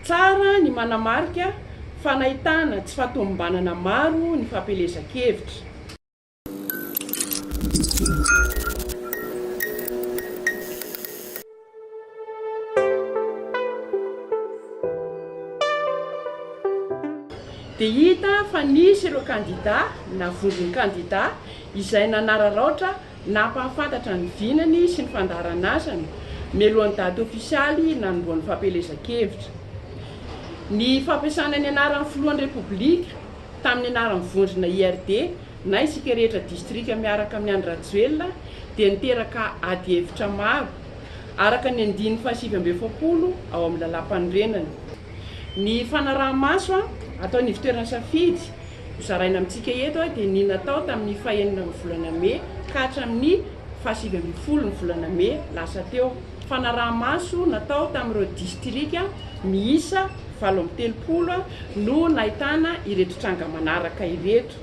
Tsara ny manamarika fa nahitana tsy fahatomombanana maro ny fampielezan-kevitra. Dia hita fa nisy ireo kandidà na vondron-kandidà izay nanararaotra Nampahafantatra ny vinany sy ny fandaharan'asany mialohan'ny daty ofisialy nanombohan'ny fampielezan-kevitra. Ny fampiasana ny anaran'ny Filohan'ny Repoblika tamin'ny anaran'ny vondrona IRD na Isika Rehetra Distrika miaraka amin'i Andry Rajoelina dia niteraka adihevitra maro, araka ny andininy fahasivy amby efapolo ao amin'ny Lalàmpanorenana. Ny fanaraha-maso ataon'ny ivotoeran'ny safidy Hozaraina amintsika eto dia ny natao tamin'ny fahenina amin'ny volana mey ka hatramin'ny fahasivy ambin'ny folon'ny volana mey lasa teo. Fanaraha-maso natao tamin'ireo distrika miisa valo amby telopolo no nahitana ireto tranga manaraka ireto,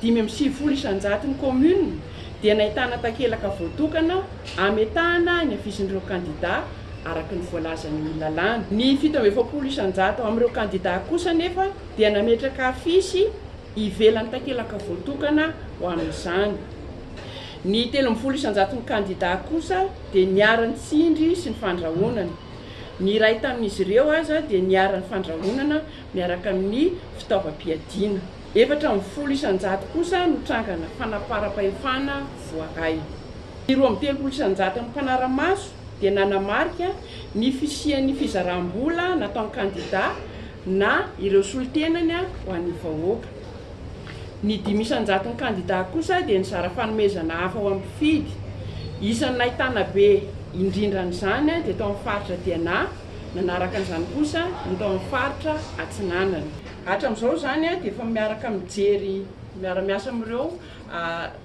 dimy amby sivifolo isan-jaton'ny kaominina dia nahitana takelaka voatokana ametahana ny hafizin'ireo kandidà araka ny voalazan'ny lalàna. Ny fito amby efapolo isan-jato amin'ireo kandidà kosa anefa dia nametraka afisy ivelan'ny takelaka voatokana ho amin'izany. Ny telo ambin'ny folo isan-jaton'ny kandidà kosa dia niara-nitsindry sy ny fandrahonana. Ny iray tamin'izy ireo aza dia niharan'ny fandrahonana miaraka amin'ny fitaovam-piadiana. Efatra ambin'ny folo isan-jato kosa no trangana fanaparam-pahefana voaray. Ny roa amby telopolo isan-jaton'ny mpanara-maso dia nanamarika ny fisian'ny fizaram-bola nataon'ny kandidà na ireo solontenany ho an'ny vahoaka. Ny dimy isan-jaton'ny kandidà kosa dia nizara fanomezana hafa ho an'ny mpifidy. Isan'ny nahitana be indrindra an'izany dia tao amin'ny faritra DNA, nanaraka an'izany kosa ny tao amin'ny faritra Atsinanana. Hatramin'izao izany dia efa miaraka mijery miara-miasa amin'ireo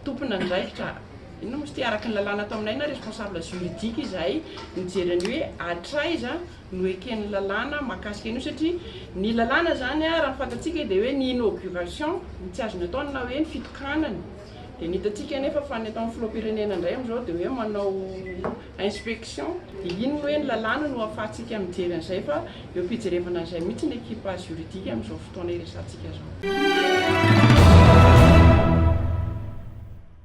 tomponandraikitra. Inona moa izy ity? Araka ny lalàna ato aminay na responsable juridique izahay mijery an'io hoe hatraiza no eken'ny lalàna mahakasika an'io satria ny lalàna izany raha ny fantatsika dia hoe ny inauguration no tsy azony atao na hoe ny fitokanana dia ny hitantsika anefa fa ny ataon'ny filoham-pirenena indray amin'izao dia hoe manao inspection dia inona hoe ny lalàna no ahafahantsika mijery an'izay fa eo fijerevana an'izay mihitsy ny ekipa juridique amin'izao fotoana iresahantsika izao.